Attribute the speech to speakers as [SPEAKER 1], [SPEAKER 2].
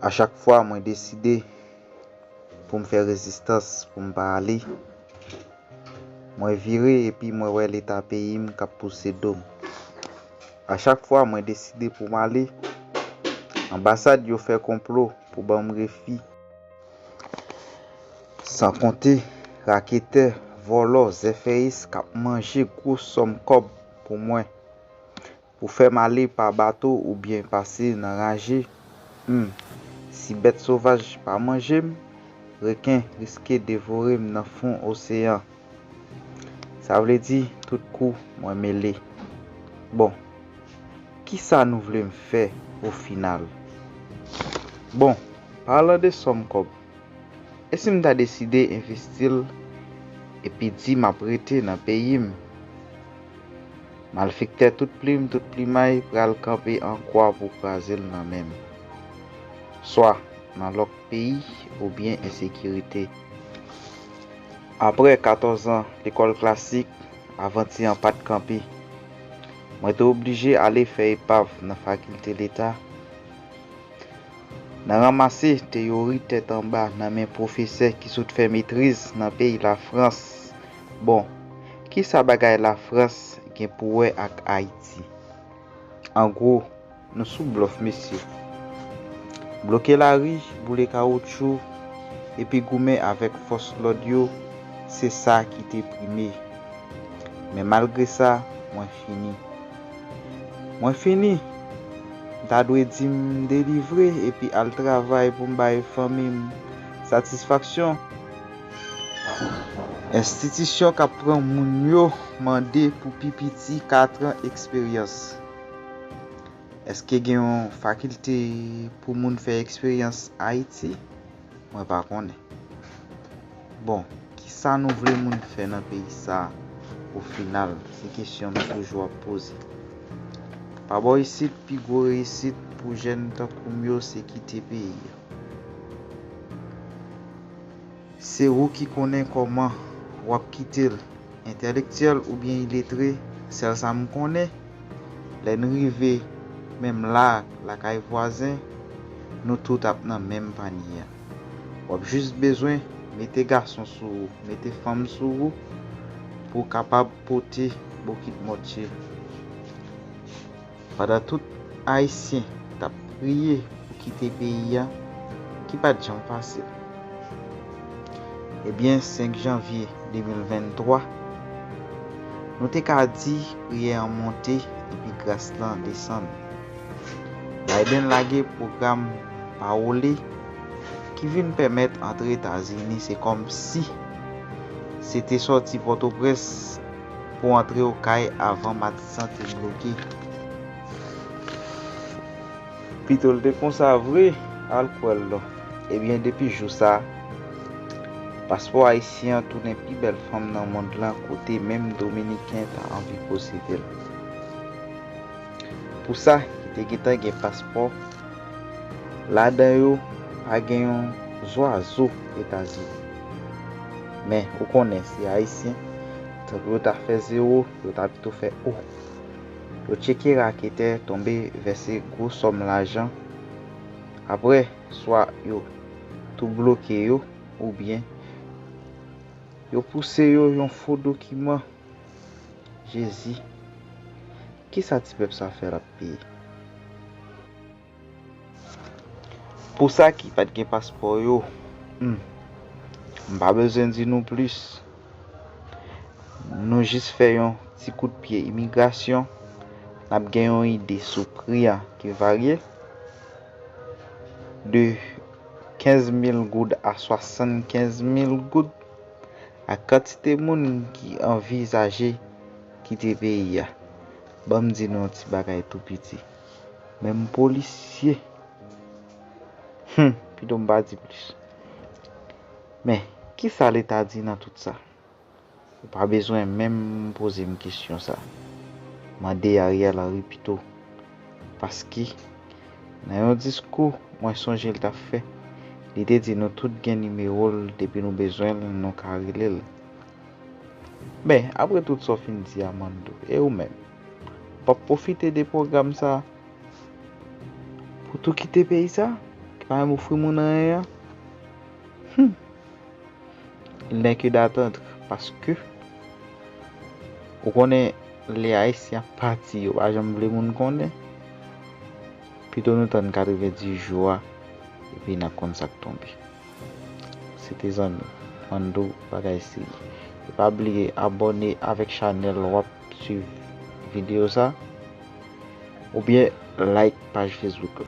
[SPEAKER 1] A chak fwa mwen deside pou m fè rezistans pou m pa ale, mwen vire epi mwen wè leta peyi m k ap pouse do m. A chak fwa mwen deside pou m ale, anbasad yo fè konplo pou ban m refi. San konte raketè, vòlò, zèfèyis k ap manje gwo sòm kòb pou mwen. Ou fè m ale pa bato oubyen pase nan raje, Humm. Si bèt sovaj pa manje m, reken riske devore m nan fon oseyan. Sa vle di tout kou mwen mele. Bon. Kisa nou vle m fè ofinal? Bon, palan de sòm kòb, e si m ta deside envesti l epi di m ap rete nan peyi m? Malfektè tout plim tout plimay pral kanpe an kwa pou kraze l nan men m. Swa nan lòk peyi oubyen ensekirite. Aprè 14 an lekòl klasik, avanti an pa t kanpe. Mwen te oblije ale fè epav nan fakilte leta, nan ranmase teyori tèt anba nan men pwofesè ki sot fè metriz nan peyi Lafrans Bon, ki sa bagay Lafrans gen pou wè ak Ayiti? An gwo, nou sou blòf mesye. Bloke lari, boule kawoutchou, epi goumen avèk fòs lòd yo, se sa ki te prime. Men malgre sa, mwen fini. Mwen fini! M ta dwe di m delivre epi al travay pou m bay fanmi m satisfaksyon. Enstitisyon k ap pran moun yo mande pou pi piti katran eksperyans. Eske gen yon fakilte pou moun fè eksperyans Ayiti? Mwen pa konnen. Bon, kisa nou vle moun fè nan peyi sa a ofinal? Se kesyon m toujou ap poze. Pa bò isit, pi gwo reyisit pou jèn tankou m yo se kite peyi a. Se ou ki konnen kòman wap kite l entèlektyèl oubyen iletre sèl sa m konnen lè n rive menm la lakay vwazen nou tout ap nan menm panye a wap jis bezwen mete gason sou ou mete fanm sou ou pou w kapab pote bokit mòtye. Pandan tout Ayisyen t ap priye pou kite peyi a ki pa t janm fasil, ebyen 5 janvye 2023, nou te ka di priyè an monte epi gras lan desann. Biden lage pwogram Parole ki vin pèmèt antre Etazini se kòm si se te sòti Pòtoprens. Pou antre okay avan matisan te bloke. Pitol te konsa vre al kwèl non. Ebyen depi jou sa paspò ayisyen an tounen pi bèl fanm nan mond lan kote menm dominiken ta anvi posedel. Pou sa ki te gentan gen paspò ladan yo pa gen yon zwazo etazini. Men ou konnen se ayisyen tankou yo ta fè zero yo ta pito fè o yo tcheke raketè tonbe vèse gwo sòm lajan aprè swa yo tou bloke yo oubyen yo pouse yo yon fo dokiman jezi kisa ti pèp sa fè lap peye. Pou sa ki pat gen paspò yo, humm m pa bezwen di nou plis, nou jis fè yon ti kout pye imigrasyon n ap gen yon ide sou pri an ki varye de 15 mil goud a 75 mil goud ak kantite moun ki anvizaje kite peyi a. Ban m di nou yon ti bagay tou piti. Menm polisye. Humm pito m pa di plis. Men, kisa leta di nan tout sa? Ou pa bezwen menm poze m kesyon sa. Mande Ariel Henry pito. Paske, nan yon diskou mwen sonje l ta fè, li te di nou tout gen nimewo l depi nou bezwen l nou ka rele l. Men, apre tout sa w fin di a Mandou, e ou menm? Pap pwofite de pwogram sa pou tou kite peyi sa ki pa menm ofri moun anyen an? Hum! Il n'est que d'attendre paske ou konnen lè Ayisyen ap pati yo pa janm vle moun konnen. Pito nou tann 90 jou a epi n'ap konn sa k tonbe. Se te zanmiw Fandou bagay se li. E pa bliye abòne avèk chanèl wap. swiv video sa. Ou byen like paj Facebook la.